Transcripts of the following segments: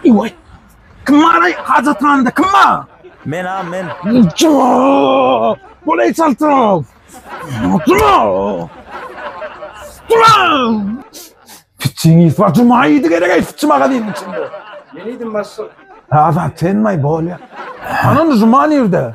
Iway. Kim baraý hajathanada? Kim bar? Men a men. Jaa! Bolaý çaltrak. Oturma. Dura! Piçiňiz bar, juma idi gerek ey piçi magazynyň içinde. Men idim başlyk. Azat sen maý bolýa. Anam juma nirde?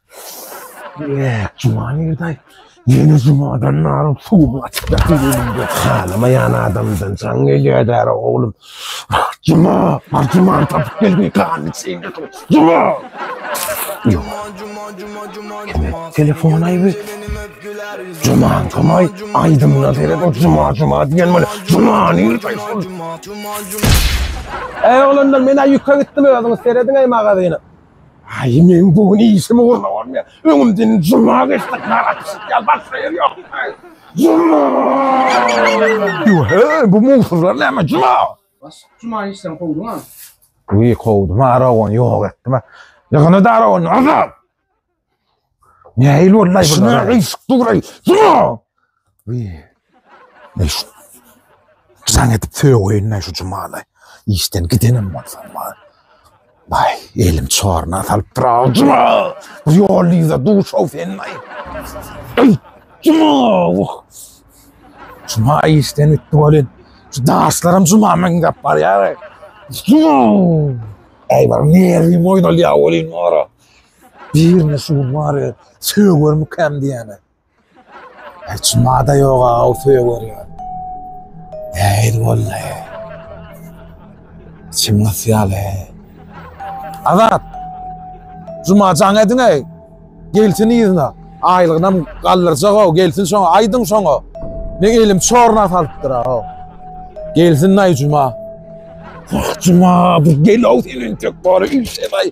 Eee, juma nirde? Ýene jumadan naryň suwuny açyplar diýilende. Halamaýan adamdan jaň gelýär-dä-re, oglum. Juma, bar jumany tapyp gel diýip ganyny çeýnedi ow. Juma! Ýok. Kime telefon aýby? Jumaň kamaý, aýdymyna seret, ol juma, juma diýen bol. Juma nirde şol? Äý, oglanlar, men-ä ýüke gitdim, özüňiz serediň-eý magazyny. Aý men bu gün işim ugruna bolmaýar. Öňümden juma geçdik ýaly atyşyp ýaly başga ýer ýok. Juma! Ýöhe, bu mugsuzlar näme juma? Baş juma işden kowduňa? Wiý kowdum aragony ýok etdim. Ýygyny-da aragony azalt! Nähili boldy aý Şuna bulara? gysyk duraý. Şuna! Uy. Ey şu. Jaň edip sögüýün şu cumala. Işden gidenim bolsa bar. Bay, elim çorna salyp tura. Cuma! Bu ýol ýüze duşaw sen bay. Ey, cuma! Oh. Cuma işden gitdi bolin. Şu daşlaram cuma men gap bar ya. Cuma! Ey bar nerwi moýnal ya bolin ora. Birini şu gün bary sögörmükäm diýýän. Hiç mada ýoga-ow söger ýa. Äýýl boldy. Çyn ysýaly. Azat. Juma jaň ediň-eý. Gelsin yzyna. Aýlygynam galdyrjak-ow. Gelsin şoňa. Aýdyň şoňa. Men elim çorna salypdyr-ow. Gelsin-aý Juma. Juma, bir gel-ow sen entek bary üýşebaý.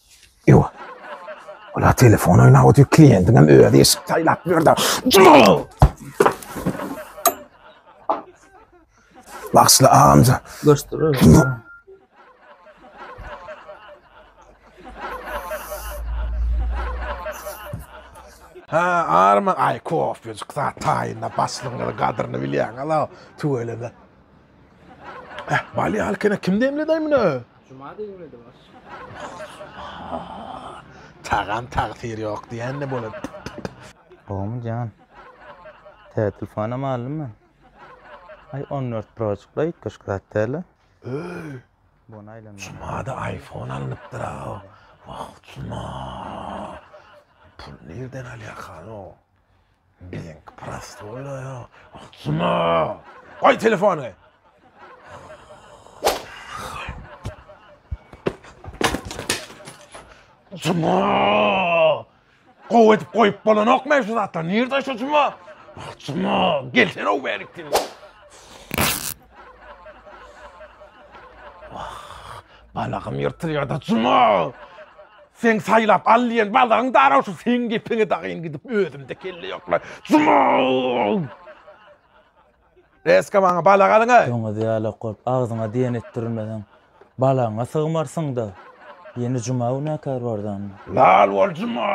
Ýo. Ola telefon oýnap otyr, kliýentiň hem özi eşik saýlap ýördi. Bagşyly agamja. Göçdürer. Ha, arma, ay kofycuk zat taýynda başlygyň gadryny bilýäň, ala, tüweleme. Eh, bal ýalykene kim demledaý muny? Juma demledi baş. Tagam tagsyr ýok diýende bolan. Howmy jan. Tätil fanam aldym men. Ay 14 Pro çykla ýetgeşik zat däl-le. Öý. Bony aýlanma. Jumada iPhone alnypdyr aw. Wah, juma. Pul nirden alýar hany o? Meňki prostoýa, ahjyna. Goý telefony. Juma! Gowy edip goýup bolanokmy şu zatlar? Nirde şu Juma? Juma, gelsene o bärik diýip. Wah, balagym ýyrtylýar-da, Juma! Seň saýlap al diýen balagyň dara şu seň gepiňi dagyn gidip özümde kelle ýokla, Juma! Reska maňa balag alyň-aý! Doňuz ýaly okulyp, agzyňa diýen etdirilmeseň, Balaňa sygmarsyň-da. Ýene juma günäkär bardan. Lal bol juma!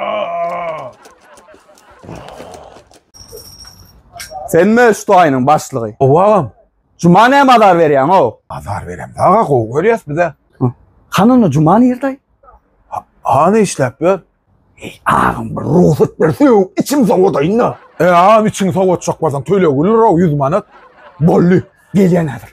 Senmi şu toýunyň başlygy? Ow agam. Juma näme azar berýäň-ow? Azar beremz aga, gowy görýäs biz-ä. Hany onda juma nirde? Hany işläp ýör? Eý, agam bir rugsat ber, sögüp içim sowadaýyn-da. E, agam içiňi sowatjak bolsaň töleg gülür-ow, ýüz manat. Boldy, gelýän häzir.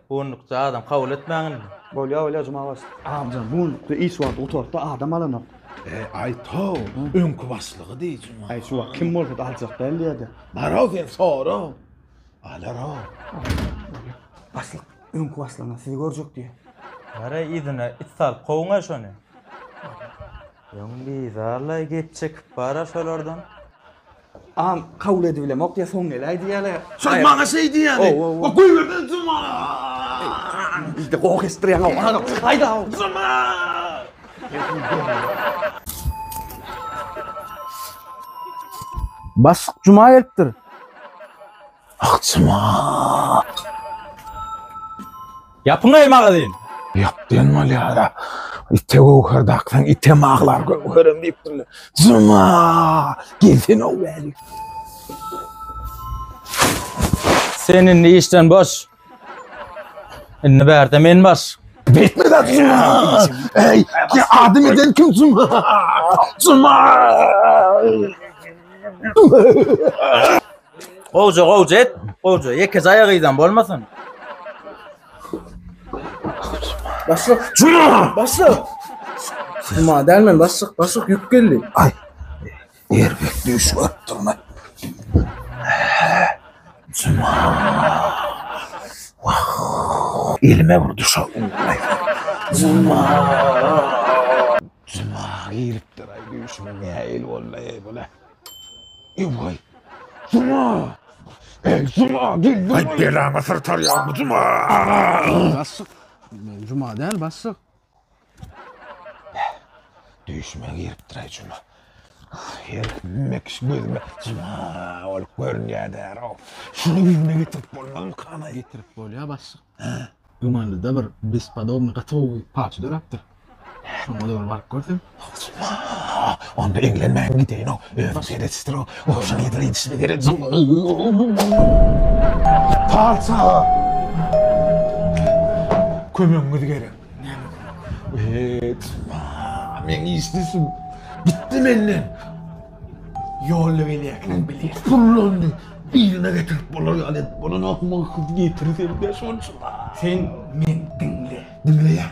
Bundukda adam kabul etmäň indi. Bolýa bolýa juma başlyk. Agam bundukda iş wagty gutartda adam alanok. E aý tow öňki başlygy diý juma. Aý şu wagt kim bolsada aljak däl diýäde. Baro sen sora. Alaro. Başlyk öňki başlygyna sizi görjek diýä. Bara yzyna it salyp kowuňa şony. Öň bizarlaý gep çekip bara şolardan. Am kabul edibilemok ya son geläý diýýärler. Şol maňa şeý diýýäni. O goýberde juma. Bizde goh estirýän o. Haýda. Juma. Başlyk juma gelipdir. Akçama. Ýapyň aý magazyn. Ýap diýen bolýara. Ite göwher daksaň ite maglar göwherem diýipdirler. Juma! Gelsin o weli. Sen indi işden boş. Indi bärde men bar. Betme da zuma. Ey, ya adım eden kim zuma? Zuma. Gowja gowja et. Gowja ýeke jaýa gyýdan bolmasyn. Başlyk, Zuma. başlyk. Zuma dälmen başlyk, başlyk ýük geldi. Ay. Erbet düýş görüpdirmi? Juma. Wah. Elime bir duşa ugraýsa. Juma. Juma giripdir aý düýşüme näil boldy eý bula. Ewaý. Juma. Eý Juma geldim. Aý belaňy syrtarýar bu Juma. Bassyk. Men Juma däl bassyk. Düýşüme giripdir-aý juma. Her mekiş gözüme juma bolup görünýädär-ow. Şuny ýüzüme getirip bolmazmykan-aý? Getirip bolýar, başlyk. Dumanlyda bir bespodobny gaty gowy parça döräpdir. Şoňa-da bir baryp görsem. Onda eňlenmäň gideýin-ow, özüň seredişdir-ow, goşa nedir edişini beredim. Palçy aga! Kömegiňiz gerek. Näme kömek? Meň işdişim gitdi menden. Ýolda gelýärkäm bileris. Pullandy. Birini getirip bolar ýaly edip bolanokmy, gyz getir sen-de şonça. Sen meni diňle. Diňleýän.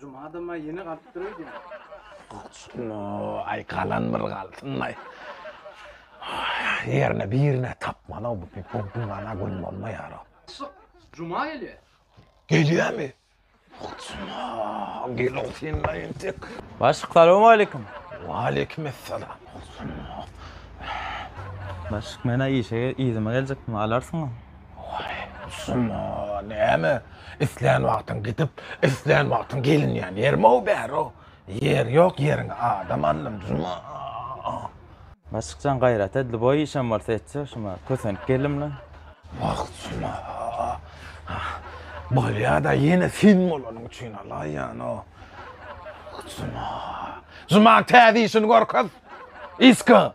Juma da maý ýene galyp dur öýdýän. Aý galan bir galsyn maý. Ýerine birine tapmaly bu gumana gün bolmaýar. Juma gelýär. Gelýärmi? Gel sen maý entek. Başlyk salam aleyküm. Aleyküm esselam. Başlyk men-ä işe yzyma geljekdim, alarsyňmy? Waý, ussum-a, näme, islän wagtyň gidip, islän wagtyň gelinýän ýerim-ow bäri-ow. Ýer ýok, ýeriňe adam aldym, duzum-a. Maşyk jan, gaýrat edli, boý işem bolsa etjek, şuma kösenip geldim-le. Wah, ussum-a, bolýa-da, ýene sen bolanyň üçin alaýýan-ow. Ussum-a, Zumanyň täze işini görkez, yska.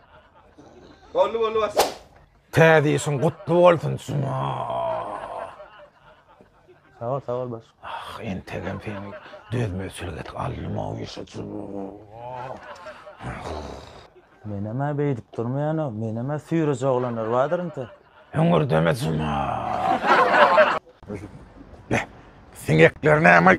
Boldy, boldy, başlyk. Täze işiň gutly bolsun Juma. Sag ol, sag ol baş. Ah, entegem sen dözmezçilik etip aldym o işi Juma. Men hem beýdip durmaýan o. Men hem süýreje oglanlar bardyr inte. Hüňürdeme Juma. Beh, siňekler näme?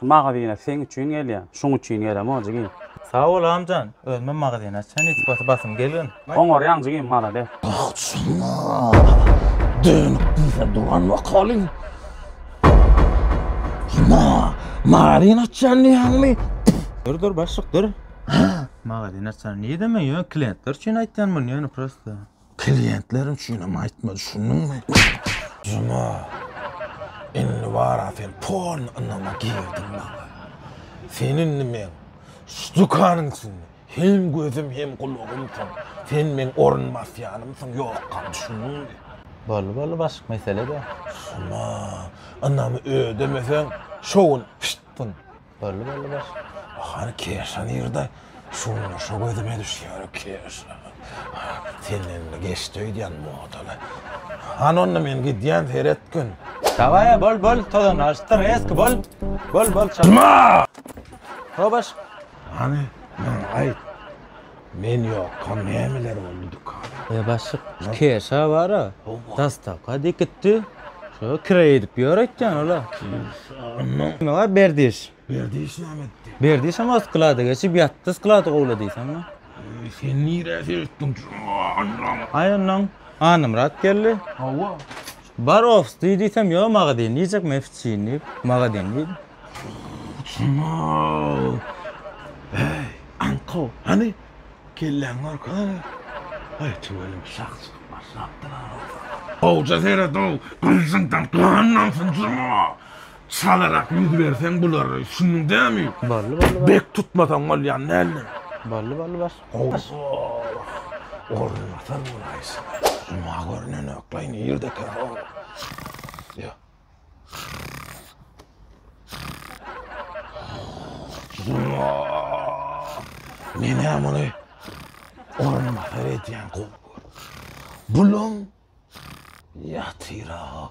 Şu magazine seň üçin gelýän. Şuň üçin gelemok jigim. Sag bol agmjan, özümem magazin açan ilkibaty basym gelgin. Oňarýaň jigim malades. Tagçyna dönük diýse duran wakaly. Huma magazin açýan diýýäňmi? Dur dur başlyk dur. Magazin açan nireme ýöne kliýentler üçin aýtýan muny ýöne prosta. Kliýentler üçinem aýtma düşündiňmi? Juma indi bara sen polny ynama girdiň maňa. Sen indi meň şu dükanyň içinde hem gözüm hem gulagymsyň. Sen meň orunbasýanymsyň ýokam düşündiňmi? Boldy boldy başyk mesele däl. Juma ynamy ödemeseň şo gün piştdin. Belli belli baş. Hany keşa nirde? Şunda şo gözüme düşýär keşa. Senende geçdi öýdýän modaly. Hany onda men gidýän seret gün. Daway bol bol tozan aşdy reski bol. Bol bol çal. Hobaş. Hany aýt. Men ýokam nämeler boldy dükana. Eý başlyk şu keşa bara dastaka dikitdi şo kire edip ýör aýtýan ola. Kime bar berdiş. Berdiş näme etdi. Berdişem o sklada geçip ýatdy sklady gowla diýseňmi. Sen nirä seretdiň jan. Aý ondan Anamyrat geldi. Hawa. Bar ofis diý diýsem ýok magazin diýjek men ofis diýip magazin diýdi. Heý, aňkow, hany, kelläňi görkezene! Aý, tüweleme şah çykyp başlapdyr-a! Gowja seret-ow, gylyjyňdan gan damsyn, jyna! Çalarak ýüz berseň bulary, düşündiň dämi? Bally, bally, bally. Bek tutmasaň bolýan däldir. Bally, bally, bally. Gowja-ow, orunbatar bolaýsa-da, jyna görnenok-laý, nirdekä-ow? Ýa. Menä muny orunbasar edýän gowy Bulam ýatyra.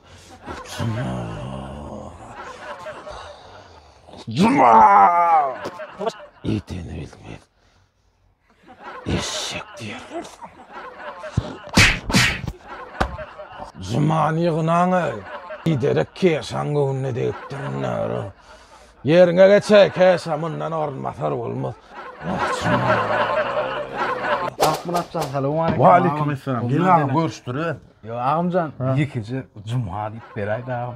Juma! Ýeteni bilmez. Eşek diýerler saňa. Jymany ýygnaň ey. Giderek keşaň göwnüne degipdir näre. Ýeriňe geç ey keşa mundan orunbasar bolmaz. Akmyrat jan salam aleykum. Wa aleykum esselam. Gel agam görüşdüre. Yo agamjan, ýekeje juma diýip beräýde agam.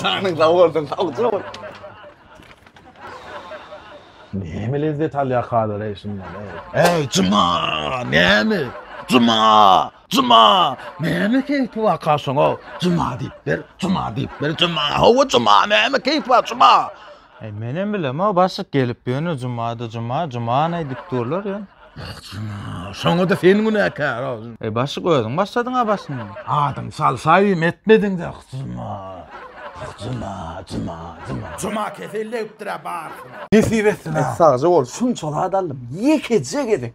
Janyň sag bolsun, sagja bol. Näme lezzet alýar Hazer eý şundan eý. Eý Juma, näme? Juma, Juma, näme keýpi bar kaşaň o? Juma diýip ber, Juma diýip ber, Juma, hawa Juma, näme keýpi bar Juma? Aý menem bilemok başyk gelip ýöne jumada juma juman aýdyp durlar ýöne. Şoňada sen günäkär ol. Eý başyk özüň başladyň a başyny. Adyň salsaýym etmediň de juma juma juma juma. Juma kesellebipdir a barsyny. Nesip etsin a. Sagja bol şunça zat aldym ýekeje gezek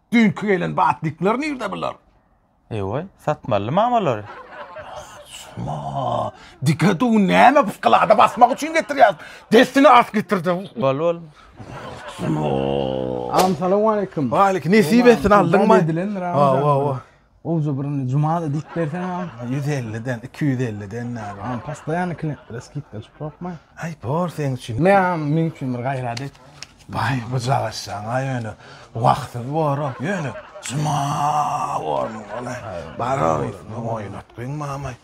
Düýnki gelen batnikler nirde bular? Eýway, satmalymy amalary? Suma, dike dur, näme bu sklada basmak üçin getirýäňmi? Dessine at getir-de. Bol, bol. Suma. Agam salam aleýkum. Waleýk, nesip etsin, aldyňmy? Hawa, hawa. Gowja bir indi jumada diýip berseňem, ýüz elliden, iki ýüz elliden nädip, hany postoýannyý klientlere skidka çykyp ýokmy? Aý, bor seň üçin. Meň, meň üçin bir gaýrat et. Baý, bujalaşjaň-a ýöne. Wagtsyz bor-ow. Ýöne, juma bormy bol-aý. Baroris, muňa oýnatgyň mamaý.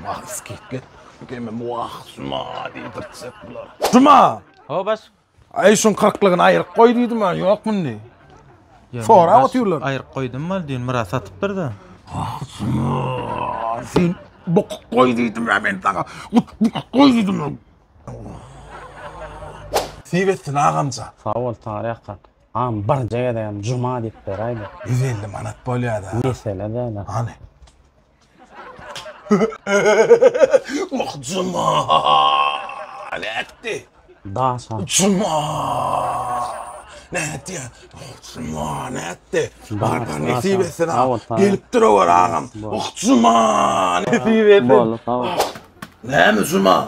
Wah, skidka et. Kem-ä wah, juma diýdirtjek bular. Juma! Ho, baş. Aý şuň kyrklygyny aýryk goý diýdim a ýok mundi. Sorap otyrlar. Aýryk goýdum mal diýin Myrat satypdyr-da. Ahsynlar sen bokuk goý diýdim a men saňa. Gut bukuk goý diýdim a. Nesip etsin agamjan. Sag bol Tary aka. Agam birje gezegem Juma diýip beräýde. Ýüz elli manat bolýa-da. Mesele däl-ä. Hany. Wah juma. Nätdi? Daşa. Juma. Nätdi? Wah juma nätdi? Barbar nesip etsin ha. Gelip dur owar agam. Wah juma. Nesip etsin. Näme juma?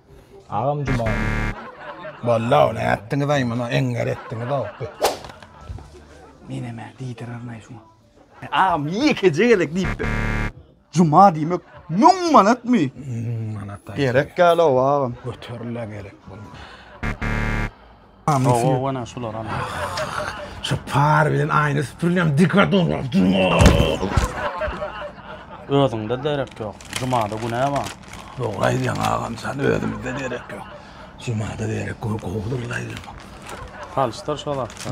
Agam Juma. Balla ol ätdiňiz aý muny eňňer etdiňiz o. Meneme diýdirer näme şuňa. E, agam ýekeje gezek diýipdir. Juma diýmek 1000 manatmy? Manat aý. Gerek ýaly o agam. Göterile gerek bolmaz. Hawa wena şular ana. Şu par bilen aýna süpürlem dikkat dograp durma. Özüňde derek ýok. Jumada günä bar. Dogry aýdýaň agam sen özümizde derek ýok. Jumada derek gowy gowudyr laýlamak. Salyşdyr şo zatlar.